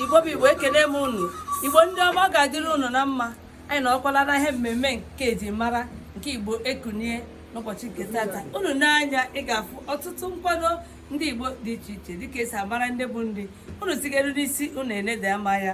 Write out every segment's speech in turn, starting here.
igbo bụ igbo ekene m unu igbo ndị ọma ọ ga-adịrị unu na mma anyị nọkwala na ihe mmemme nke e ji mara nke igbo ekunie n'ụbọchị nke tata unu na anyị ga-afụ ọtụtụ nkwado ndị igbo dị iche iche dịka esi amara ndị bụ ndị unu tigere n'isi unu enede ama ya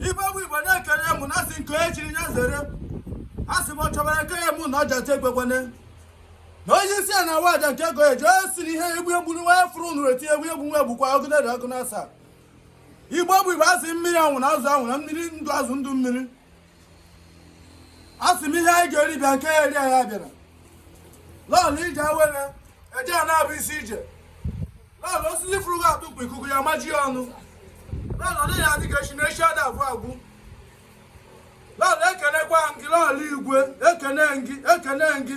igbo bụ igbo ekele m unu asị nke onye chiri ya zere asị m chọbara nke ya mụ na ọja te egbekwane na onye isi a na-awa aja nke ego eji onye si na ihe egbu egbu nwa ya fụrụ nụrụ eti egbu egbu nwa egbukwa ọgụ na ọgụ na asa igbo bụ igbo asị mmiri anwụna azụ anwụna mmiri ndụ azụ ndụ mmiri asị m ihe anyị ga-eri bịa nke ya eri anyị abịara lọọlọ ije awere eje ana bụ isi ije lọọlọ osisi fụrụ gị atụpụ ikuku ya maji ya onu lọọlọ ị ga-adị ka echi na echi ada agwụ agwụ lọọlọ ekenekwa m gị lọọlọ igwe ekene m gị ekene m gị